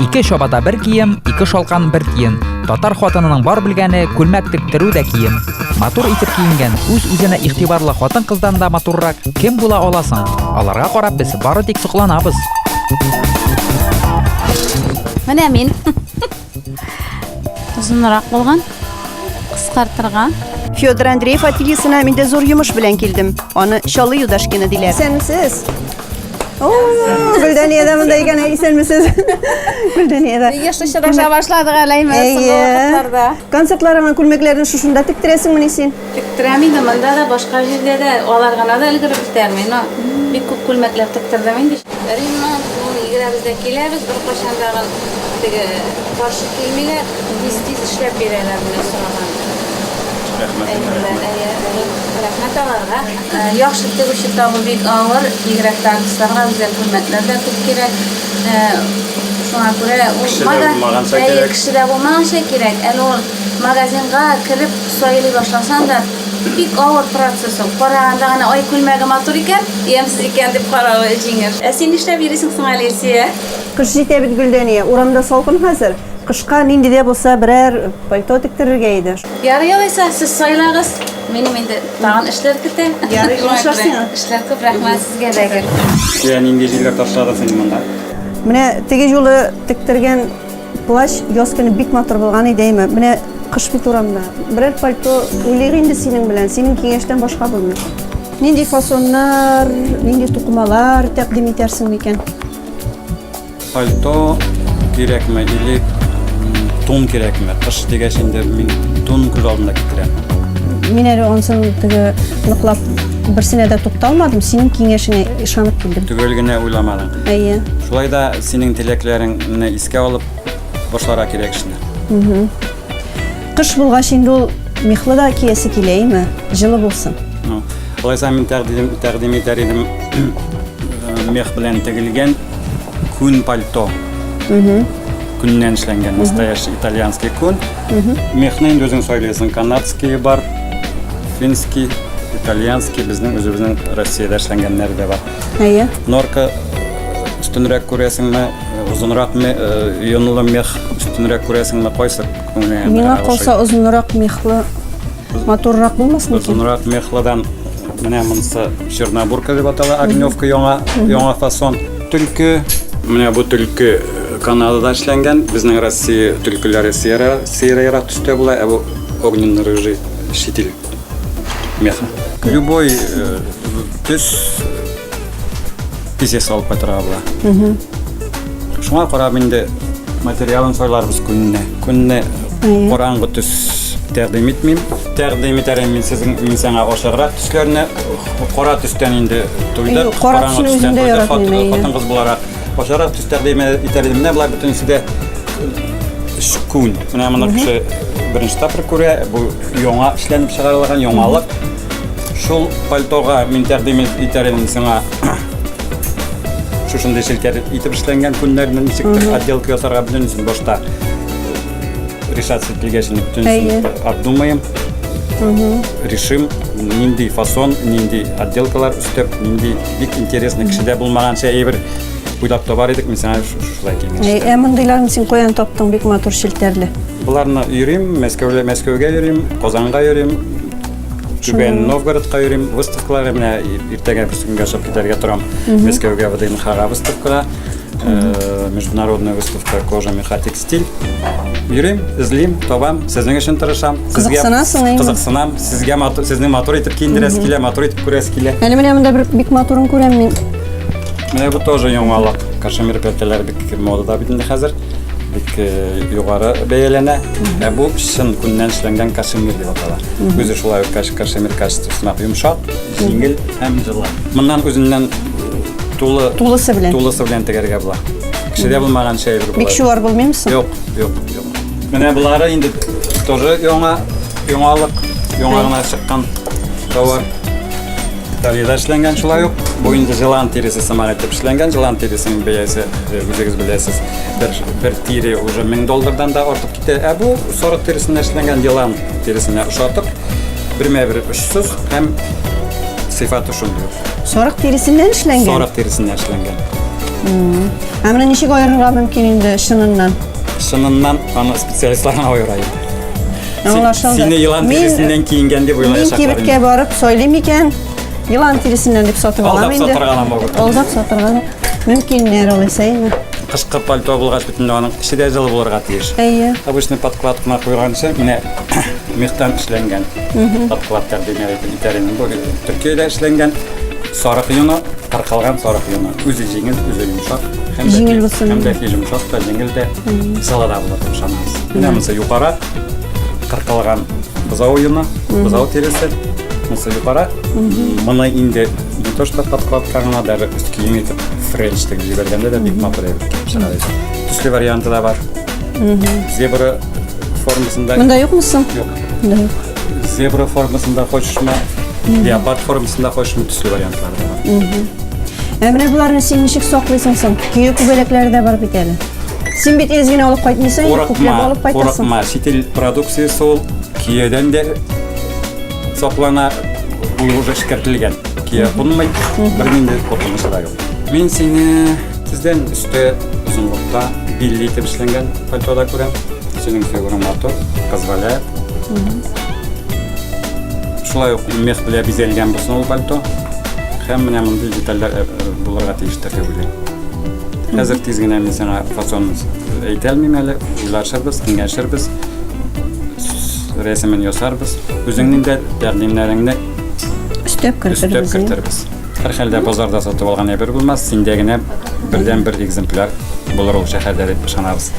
Ике чабата бер кием, ике шалкан бер тиен. Татар хатынының бар белгәне күлмәк тектерү дә кием. Матур итеп киенгән, үз-үзенә игътибарлы хатын-кыздан да матуррак кем була аласың? Аларга карап без бары тик сокланабыз. Менә мин. Озынрак булган, кыскартырга. Федор Андреев ательесына мин дә зур йомыш белән килдем. Аны Чалы Юдашкина диләр. Исәнмесез. О, Гөлдәния дә монда икән, исәнмесез. Гөлдәния дә. Еш очраша башладык әле инде соңгы вакытларда. Концертларыңа күлмәкләрне шушында тектерәсеңмени син? Тектерәм инде, монда да, башка җирдә дә, алар гына да өлгереп бетәрми, но бик күп күлмәкләр тектердем инде. Ремонт, ну, егерәбез дә киләбез, беркайчан тагын теге каршы килмиләр, тиз-тиз эшләп бирәләр менә сораган. Рәхмәт, рәхмәт. Әйе, рәхмәт аларга. Яхшы тегүче табу бик авыр, бигрәк тә артистларга үзәк күлмәкләр дә күп кирәк. Шуңа күрә ул Кеше дә булмаганча кирәк. Кеше дә булмаганча кирәк. Әле ул Магазинга кереп сайлый башласаң да, бик авыр процесс ул. Караганда гына, ай, күлмәге матур икән, ямьсез икән дип каравы җиңел. Ә син нишләп йөрисең соң әле, Илсөя? Кыш җитә бит, Гөлдәния. Урамда салкын хәзер. Кышка нинди дә булса берәр пальто тектерергә иде. Ярый алайса, сез сайлагыз. Минем инде тагын эшләр көтә. Ярый, шуңа күрә эшләр күп. Рәхмәт сезгә дә гел. Илсөя, нинди җилләр ташладың син монда? Менә теге юлы тектергән Плащ яз көне бик матур булган иде, әйме. Менә кыш бит урамда. Берәр пальто уйлыйк инде синең белән. Синең киңәштән башка булмый. Нинди фасоннар, нинди тукымалар тәкъдим итәрсең микән? Пальто кирәкме или тун кирәкме? Кыш дигәч инде мин тун күз алдына китерәм. Мин әле ансын теге ныклап берсенә дә тукталмадым, синең киңәшеңә ышанып килдем. Төгәл генә уйламадың. Әйе. Шулай да синең теләкләреңне искә алып башларга кирәк эшне. Кыш булгач инде ул мехлы да киясе килә, әйме? Җылы булсын. Ну, Алайса мин тәкъдим тәкъдим итәр идем э, мех белән тегелгән күн пальто. Күннән эшләнгән настоящий итальянский күн. Мехны инде үзең сайлыйсың. Канадский бар, финский, итальянский, безнең үзебезнең Россиядә эшләнгәннәре дә бар. Әйе. Норка өстенрәк күрәсеңме, озынрак ме, йонлы мех өстенрәк күрәсеңме, кайсы күңелеңә? Миңа калса озынрак мехлы матуррак булмасын икән? Озынрак мехлыдан менә монысы чернобурка дип атала, огневка яңа яңа фасон. Төлке, менә бу төлке Канадада эшләнгән, безнең Россия төлкеләре сыера, сыера ярак төстә була, ә бу огненно-рыжий шитил меха. Любой э, төс тизес алып кайтырга була. Шуңа карап инде материалын сайларбыз көнне. Көнне караңгы төс тәкъдим итмим. Тәкъдим итәрем мин сезнең мин сиңа ошаграк төсләрне кара төстән инде туйдык. Кара төстән туйдык хатын-кыз буларак. Ашарак төс тәкъдим итәр идем. Менә болар бөтенесе дә күн. Менә моны кеше беренче тапкыр күрә. Бу яңа эшләнеп чыгарылган яңалык. Шул пальтога мин тәкъдим итәр идем сиңа шушындый селтәр итеп эшләнгән күннәрне ничек отделка ясарга бөтенесен башта решаться ителгәч инде бөтенесен обдумаем решим нинди фасон нинди отделкалар өстәп нинди Бик интересный кешедә булмаганча әйбер уйлап табар идек, мин сиңа шулай киңәш. Э, ә мондыйларны син каян таптың? Бик матур челтәрле. Буларны йөрим, Мәскәүгә, Мәскәүгә йөрим, Казанга йөрим, Түбән Новгородка йөрим, выставкаларга менә иртәгә бер көнгә чыгып китәргә торам. Мәскәүгә ВДНХга выставкага. э, международная выставка кожа меха текстиль йөрим эзлим табам сезнең өчен тырышам сезгә кызыксынам сезгә матур сезне матур итеп киендерәсе килә матур итеп күрәсе килә әле менә монда бер бик матурын күрәм мин менә бу тоже яңалык кашемир пәлтәләр бик модада бит инде хәзер бик э, югары бәяләнә ә бу чын күннән эшләнгән кашемир дип атала үзе шулай ук кашемир качествосына йомшак Җиңел һәм җылы. Моннан үзеннән тулы тулысы белән тулысы белән тегәргә була. Кешедә булмаган шәй бер була. Бик шулар булмыймы соң? Юк, юк, юк. Менә булары инде тоже яңа, яңалык, яңа гына чыккан товар. Италиядә эшләнгән шулай ук. Бу инде җылан тиресе сыман итеп эшләнгән. Җылан тиресенең бәясе, э, үзегез беләсез, бер, бер тире уже 1000 доллардан да артып китә. Ә бу сарык тиресеннән эшләнгән җылан тиресенә ошатып, бермә-бер Сыз һәм сыйфа төшендерү. Сарык терисеннән эшләнгән? Сарык терисеннән эшләнгән. Ә менә ничек аерырга мөмкин инде чыныннан? Чыныннан аны специалистлар гына аера инде. Аңлашылды. Сине елан Мин- терисеннән киенгән дип Мин уйлаячаклар. кибеткә инде. барып сөйлим икән, елан тиресеннән дип сатып Алдап алам инде. сатырга ла мөмкин. Алдап сатырга да мөмкиннәр алайса инде. Кышкы пальто булгач, Инде аның эче дә җылы булырга тиеш. Әйе. Обычный подклад кына куйганчы, менә мехтан эшләнгән подкладлар дигән итәрен. Бу Төркиядә эшләнгән сарык йоны, кыркылган сарык йоны. Үзе җиңел, үзе йомшак. Һәм дә Җиңел булсын. Һәм дә йомшак та, җиңел дә, сала да булыр дип ышанабыз. Менә монысы юкара, кыркылган бозау йоны, бозау тиресе. Монысы юкара. Моны инде Не то что подкладка гына, даже өст кием итеп френч тегеп җибәргәндә дә бик матур итеп чыга икән. Төсле варианты да бар. Зебра формасында. Монда юкмы соң? Юк. Монда юк. Зебра формасында хочешме, леопард формасында хочешме төсле вариантлар да бар. Ә менә боларны син ничек саклыйсың соң? Көе күбәләкләре дә бар бит әле. Син бит изгене алып кайтмыйсың, күпләп алып кайтасың. Курыкма, сетель продукциясе ул киедән дә Соклана буе уже эшкәртелгән. Кия кунмый, бер нинди куркынышы да юк. Мин сине тиздән өстә озынлыкта билли итеп эшләнгән пальтода күрәм. Синең фигураң матур, позволяет. Шулай ук мех белән бизәлгән булсын ул пальто. Һәм менә мондый детальләр э, э, булырга тиештер дип уйлыйм. Хәзер тиз генә мин сиңа фасонын әйтә алмыйм әле, уйлашырбыз, киңәшербез. Рәсемен ясарбыз. Үзеңнең дә тәкъдимнәреңне өстәп кертергез. Өстәп кертергез. Һәр хәлдә базарда сатып алган әйбер булмас, синдә генә бердән бер экземпляр булыр ул шәһәрдә дип ышанабыз.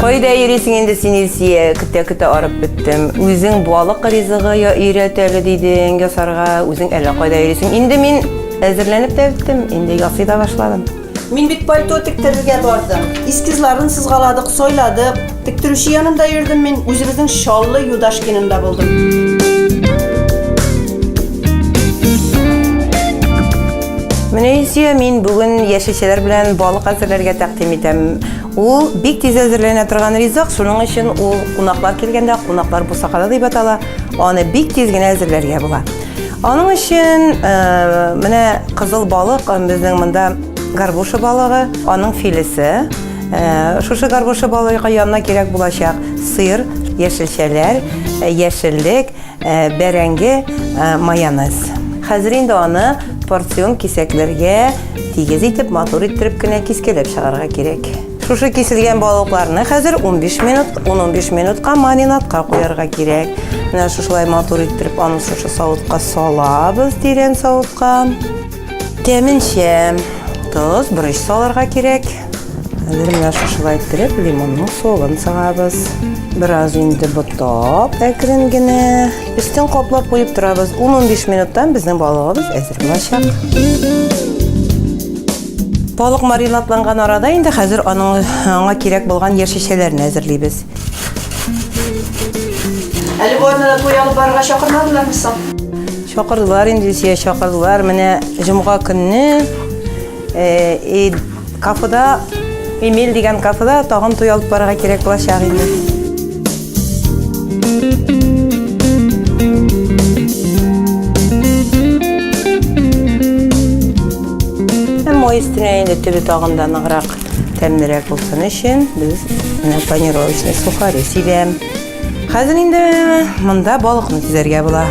Кайда йөрисең инде син Илсия? Көтә-көтә арып беттем. Үзең балык ризыгы я өйрәтәле дидең ясарга, үзең әллә кайда йөрисең. Инде мин Әзерләнеп тә беттем, инде ясый да башладым. Мин бит пальто тектерергә бардым. Эскизларын сызгаладык, сайладык. Тектерүче янында йөрдем мин, үзебезнең Чаллы Юдашкинында булдым. Менә Илсөя, мин бүген яшелчәләр белән балык әзерләргә тәкъдим итәм. Ул бик тиз әзерләнә торган ризык, шуның өчен ул кунаклар килгәндә, кунаклар бусагада дип атала, аны бик тиз генә әзерләргә була. Аның өчен менә кызыл балык, безнең монда горбуша балыгы, аның филесе. Шушы горбуша балыгы янына кирәк булачак сыр, яшелчәләр, яшеллек, бәрәңге, майонез. Хәзер инде аны порцион кисәкләргә тигез итеп, матур иттереп кенә кискәләп чыгарга кирәк. Шушы киселгән балыкларны хәзер 15 минут, 10-15 минутка маринадка куярга кирәк. Менә шушылай матур иттереп аны шушы савытка салабыз, тирән савытка. Тәменчә тоз, борыч салырга кирәк. Хәзер менә шушылай иттереп лимонның согын сыгабыз. Бераз инде ботап, әкрен генә. Өстен каплап куеп торабыз. 10-15 минуттан безнең балыгыбыз әзер булачак. Балык маринадланган арада инде хәзер аның аңа кирәк булган яшелчәләрен әзерлибез. Әле бу арнада туй алып барырга чакырмадылармы соң? Чакырдылар инде Илсөя, чакырдылар. Менә җомга көнне э, кафеда Эмиль дигән кафеда тагын туй алып барырга кирәк булачак инде. Мой өстенә инде төбе тагында ныграк тәмнерәк булсын өчен без менә панировочный сухари сибәм. Хәзер инде монда балыкны тизәргә була.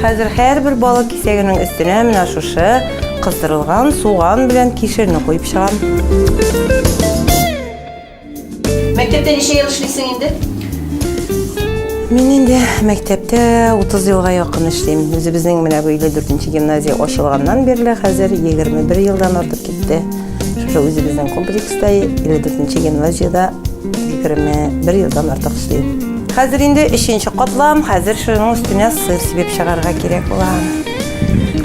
Хәзер һәрбер балык кисәгенең өстенә менә шушы Кыздырылган суган белән кишерне куеп чыгам. Мәктәптә ничә ел эшлисең инде? Мин инде мәктәптә 30 елга якын эшлим. Үзебезнең менә бу 54 гимназия ачылганнан бирле хәзер 21 елдан артып китте. Шушы үзебезнең комплекста 54 гимназиядә 21 елдан артык эшлим. Хәзер инде 3 катлам, хәзер шуның өстенә сыр сибеп чыгарга кирәк була.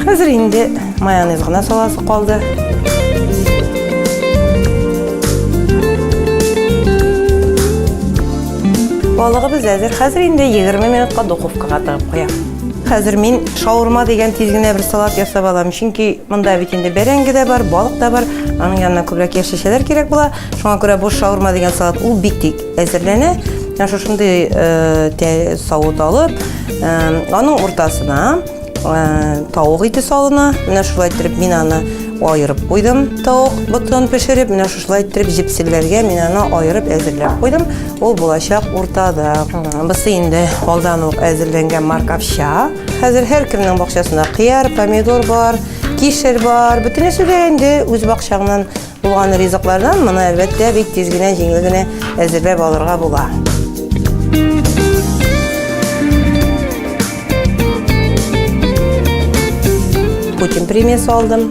Хәзер инде майонез гына саласы калды. Балыгыбыз әзер. Хәзер инде 20 минутка духовкага тыгып куям. Хәзер мин шаурма дигән тиз генә бер салат ясап алам, чөнки монда бит инде бәрәңге дә бар, балык та бар. Аның янына күбрәк яшелчәләр кирәк була. Шуңа күрә бу шаурма дигән салат ул бик тиз әзерләнә. Менә шушындый э, савыт алып, э, аның уртасына Тавык ите салына. Менә шулай иттереп мин аны аерып куйдым. Тавык ботын пешереп, менә шулай иттереп җепселләргә мин аны аерып әзерләп куйдым. Ул булачак уртада. Бусы инде алдан ук әзерләнгән маркавча. Хәзер һәркемнең бакчасында кыяр, помидор бар, кишер бар. Бөтенесе дә инде үз бакчаңнан Булган ризыклардан моны әлбәттә бик тиз генә җиңел генә әзерләп алырга була. Путин премиясе алдым.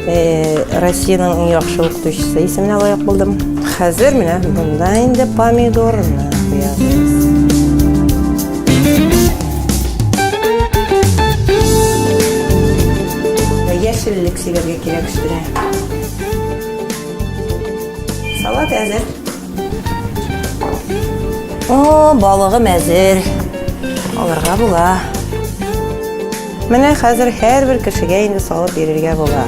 Э, Россиянең иң яхшы укытучысы исеменә лаек булдым. Хәзер менә монда инде помидорны Яшеллек сибәргә кирәк өстенә. Салат әзер. О, балыгым әзер. Алырга була. Менә хәзер һәрбер кешегә инде салып бирергә була.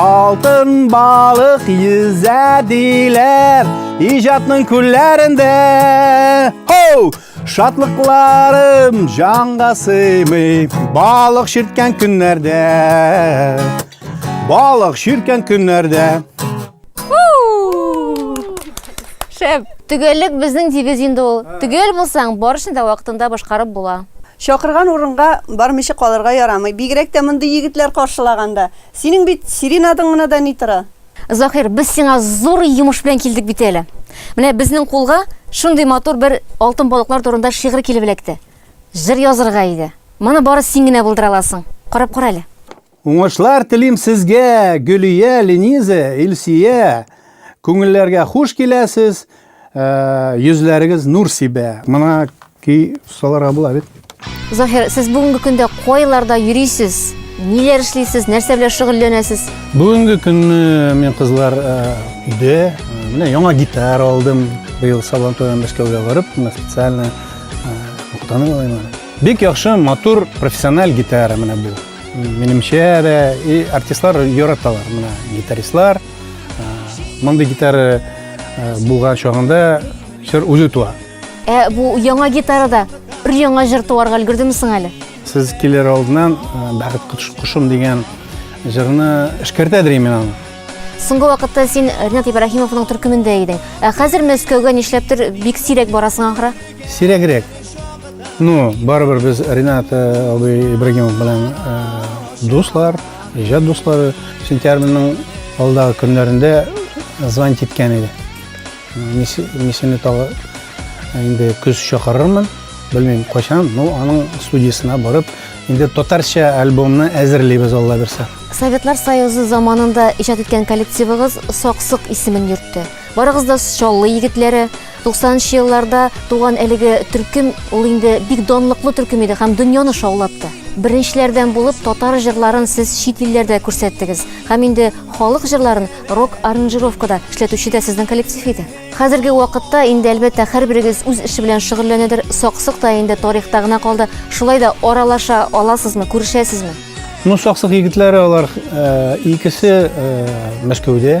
Алтын балык йөзә диләр иҗатның күлләрендә. Хоу! Шатлыкларым җанга сыймый балык ширткән көннәрдә. Балык ширткән көннәрдә. Шәп. Төгәллек безнең девиз инде ул. Төгәл булсаң, барышны да вакытында башкарып була. Чакырган урынга бармыйча калырга ярамый, бигрәк тә мондый егетләр каршылаганда. Синең бит сиренадың гына да ни тора? Заһир, без сиңа зур йомыш белән килдек бит әле. Менә безнең кулга шундый матур бер алтын балыклар турында шигырь килеп эләкте. Җыр язырга иде. Моны бары син генә булдыра аласың. Карап кара әле. Уңышлар телим сезгә, Гөлия, Лениза, Илсия! Күңелләргә хуш киләсез, Йөзләрегез нур сибә. Мына ки саларга була бит. Заһир, сез бүгенге көндә кайларда йөрисез? Ниләр эшлисез? Нәрсә белән шөгыльләнәсез? Бүгенге көнне мин кызлар э, өйдә, э, менә яңа гитара алдым. Быел Сабантуйдан Мәскәүгә барып, менә специально э, уктану алайма. Бик яхшы, матур, профессиональ гитара менә бу. Минемчә дә и артистлар яраталар менә гитаристлар. Мондый гитара булган чагында җыр үзе туа. Ә бу яңа гитарада бер яңа җыр туарга өлгердеме соң әле? Сез килер алдыннан Бәхет кошым дигән җырны эшкәртә дирем мин аны. Соңгы вакытта син Ринат Ибраһимовның төркемендә идең. Ә хәзер Мәскәүгә нишләптер бик сирәк барасың ахры? Сирәгрәк. Ну, барыбер без Ринат абый Ибраһимов белән дуслар. Иҗат дуслары сентябрьнең алдагы көннәрендә звонить иткән иде. Мисене тагы инде көз чакырырмын, белмим кайчан, но аның студиясенә барып, инде татарча альбомны әзерлибез Алла бирсә. Советлар Союзы заманында иҗат иткән коллективыгыз Саксык исемен йөртте. Барыгыз да Чаллы егетләре. 90 нчы елларда туган әлеге төркем ул инде бик данлыклы төркем иде һәм дөньяны шаулатты. Беренчеләрдән булып татар җырларын сез чит илләрдә күрсәттегез. Һәм инде халык җырларын рок аранжировкада эшләтүче дә сезнең коллектив иде. Хәзерге вакытта инде әлбәттә һәрберегез үз эше белән шөгыльләнәдер, саксык та инде тарихта гына калды. Шулай да аралаша аласызмы, күрешәсезме? Ну, саксык егетләре алар э, икесе э, Мәскәүдә.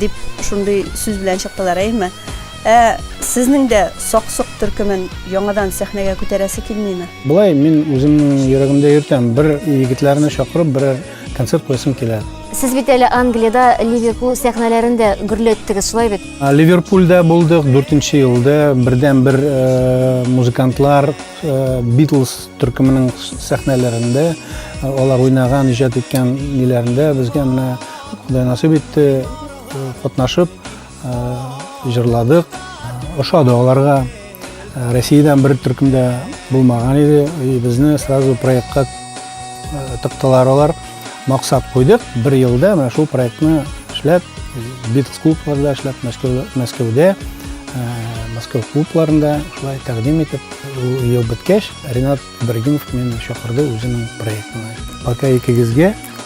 Дип шундый сүз белән чыктылар, әйеме? Ә сезнең дә Саксык төркемен яңадан сәхнәгә күтәрәсе килмиме? Болай, мин үземнең йөрәгемдә йөртәм, бер егетләрне чакырып, берәр концерт куясым килә. Сез бит әле Англиядә Ливерпул сәхнәләрен дә гөрләттегез, шулай бит? Ливерпулдә булдык, дүртенче елда бердәнбер музыкантлар Битлз төркеменең сәхнәләрендә, алар уйнаган, иҗат иткән ниләрендә безгә менә Кудай насыйп итте, катнашып, җырладык. Ошады аларга. Россиядән бер төркем дә булмаган иде. Безне сразу проектка тыктылар алар. Максат куйдык, бер елда менә шул проектны эшләп, Битлз клубларда эшләп, Мәскәүдә, Мәскәү клубларында шулай тәкъдим итеп, ел беткәч, Ренат Ибрагимов мине чакырды үзенең проектына. Пока икегезгә